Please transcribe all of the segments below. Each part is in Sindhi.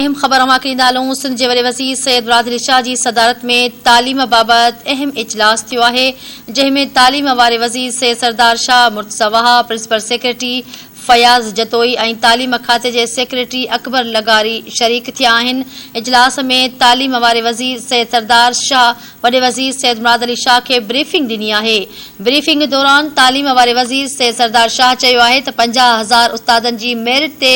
اهم خبر اوهان کي ڏيندا هلون سنڌ جي وڏي وزير سيد برادري شاهه جي صدارت ۾ تعليم بابت اهم اجلاس ٿيو آهي جنهن ۾ تعليم واري وزير سيد سردار شاهه مرتضيٰ وهاء پرنسپل سيڪريٽري فياض جتوئي ۽ تعليم کاتي جي سيڪريٽري اڪبر لغاري شريڪ ٿيا آهن اجلاس ۾ تعليم واري وزير سيد سردار شاهه وڏي وزير سيد مراد علي شاهه کي بريفنگ ڏني آهي بريفنگ دوران تعليم واري وزير سيد سردار شاهه چيو آهي ته پنجاهه هزار استادن جي ميرٽ تي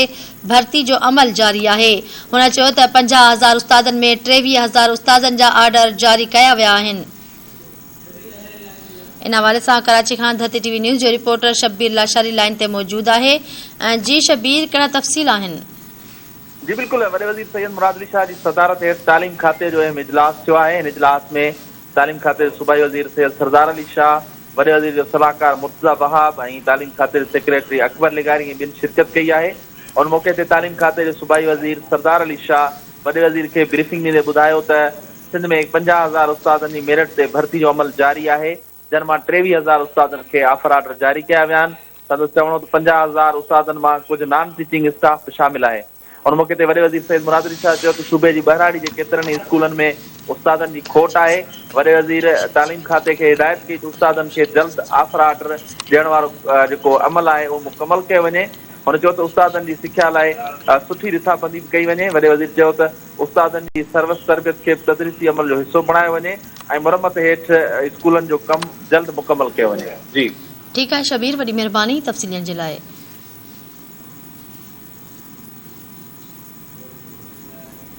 ڀرتي جو عمل جاري آهي. هن چيو ته پنجاهه هزار استادن ۾ ٽيويهه هزار استادن جا آرڊر جاري ڪيا ويا آهن. ان حوالي سان ڪراچي کان ڌرتي ٽي وي نيوز جو رپورٽر شبير لاشاري لائين تي موجود آهي. جي شبير ڪهڙا تفصيل آهن؟ جي بلڪل وڏي وزير سيد مراد علي شاهه جي صدارت هيٺ تعليم کاتي جو اهم اجلاس ٿيو آهي ان اجلاس ۾ تعليم کاتي جي صوبائي وزير سيد سردار علي شاهه، وڏي وزير جو صلاحڪار مرتضيٰ وهاب ۽ تعليم کاتي جي سيڪريٽري اڪبر لغاري ۽ ٻين شرڪت ڪئي آهي. ان موقعي تي تعليم کاتي جي صوبائي وزير سردار علي شاهه وڏي وزير کي بريفنگ ڏيندي ٻڌايو ته سنڌ ۾ پنجاهه هزار استادن جي ميرٽ تي ڀرتي جو عمل جاري آهي، جن مان ٽيويهه هزار استادن کي آفر آرڊر جاري ڪيا ويا آهن. سندس چوڻ هو ته پنجاهه هزار استادن مان ڪجهه نان ٽيچنگ اسٽاف به شامل آهي. ان موقعي تي وڏي وزير سيد مراد علي شاهه چيو ته صوبي جي ٻهراڙي جي ڪيترن ئي اسڪولن ۾ استادن جي کوٽ آهي، وڏي وزير تعليم کاتي کي هدايت ڪئي ته استادن کي جلد آفر آرڊر ڏيڻ وارو جيڪو عمل آهي اهو مڪمل ڪيو وڃي، هن چيو ته استادن جي سکيا لاء سٺي رٿابندي به ڪئي وڃي، وڏي وزير چيو ته استادن جي سروس تربيت کي به تدريسي عمل جو حصو بڻايو وڃي ۽ مرمت هيٺ اسڪولن جو ڪم جلد مڪمل ڪيو وڃي. ٺيڪ آهي شبير وڏي مهرباني تفصيل ڏيڻ جي لاء.